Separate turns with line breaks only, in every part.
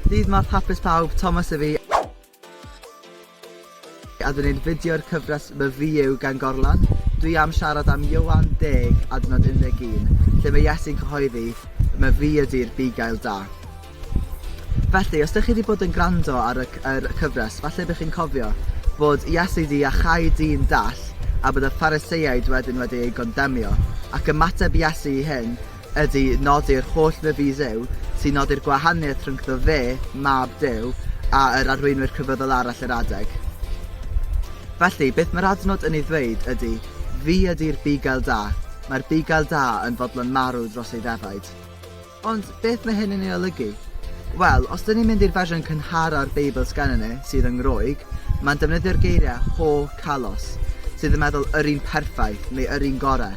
Dydd Mawrth hapus pawb, Thomas yw fi a dwi'n gwneud fideo'r cyfres My VU gan Gorlan. Dwi am siarad am Ioan 10 adnod 11, lle mae Iesu'n cyhoeddi, Mae fi ydy'r bugail da. Felly, os ydych chi wedi bod yn gwrando ar y, er, cyfres, falle bych chi'n cofio bod Iesu wedi achau dyn dall a bod y Phariseiaid wedyn wedi ei gondemio, ac ymateb Iesu i hyn ydy nodi'r holl fyfysew sy'n nodi'r gwahaniaeth rhyngddo fe, Mab Duw, a yr arweinwyr crefyddol arall yr adeg. Felly, beth mae'r adnod yn ei ddweud ydy, Fi ydy'r bugail da. Mae'r bugail da yn fodlon marw dros ei ddefaid. Ond beth mae hyn yn ei olygu? Wel, os dyn ni'n mynd i'r fersiwn cynhara o'r Beibl sgennyn ni, sydd yn Groeg, mae'n defnyddio'r geiriau ho kalos, sydd yn meddwl yr un perffaith, neu yr un gorau.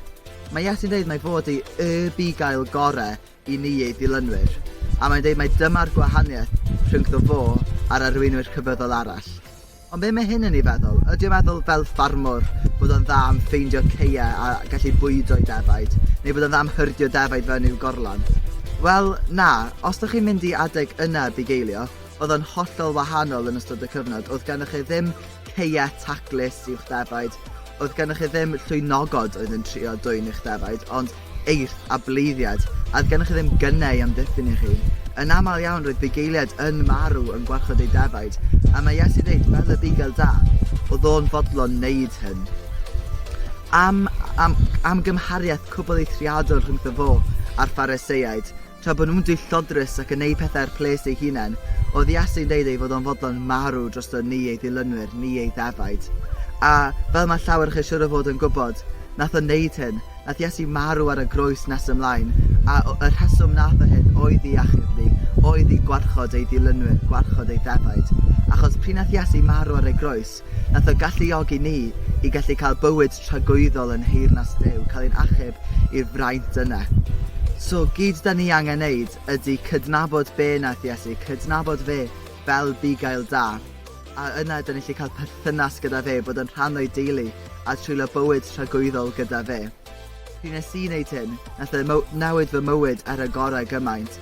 Mae Iesi'n dweud mai fod ei Y Bugail Gorau i ni ei ddilynwyr, a mae'n dweud mai dyma'r gwahaniaeth rhyngddo fo a'r arweinwyr crefyddol arall. Ond be mae hyn yn ei feddwl? Ydy o'n meddwl fel ffarmwr bod o'n dda am ffeindio caeau a gallu bwydo'i defaid, neu bod o'n dda am hyrdio defaid fewn i'w gorlan? Wel, na, os dych chi'n mynd i adeg yna bugeilio, oedd o'n hollol wahanol yn ystod y cyfnod, oedd gennych chi ddim ceia taclus i'w'ch defaid. Oedd gennych chi ddim llwynogod oedd yn trio dwyn eich defaid, ond eirth a bleiddiad, a oedd gennych chi ddim gynnau i amddiffyn eich hun. Yn aml iawn roedd bugeiliaid yn marw yn gwarchod eu defaid, a mae Iesu dweud, fel y bugel da, oedd o'n fodlon wneud hyn. Am, am, am gymhariaeth cwbl eithriadol rhyngddo fo a'r Phariseiaid, Tra bod nhw'n dillodrus ac yn neud pethau ar ples eu hunain, oedd Iase'n deud ei fod o'n fodlon marw drosto ni ei ddilynwyr, ni ei ddefaid. A, fel mae llawer o chi siŵr o fod yn gwybod, nath o neud hyn. Nath Iesu marw ar y groes nes ymlaen, a o, y rheswm nath o hyn oedd i achub ni, oedd i gwarchod ei ddilynwyr, gwarchod ei ddefaid. Achos, pryd nath Iesu marw ar ei groes, Nath o galluogi ni i gallu cael bywyd tragwyddol yn nheyrnas Duw, cael ein achub i'r fraint yna. So, gyd da ni angen neud ydy cydnabod be nath Iesu, cydnabod fe fel bugail da, a yna da ni gallu cael perthynas gyda fe, bod yn rhan o'i deulu, a treulio bywyd tragwyddol gyda fe. Pryd nes i neud hyn, nath e mo- newid fy mywyd ar y gorau gymaint.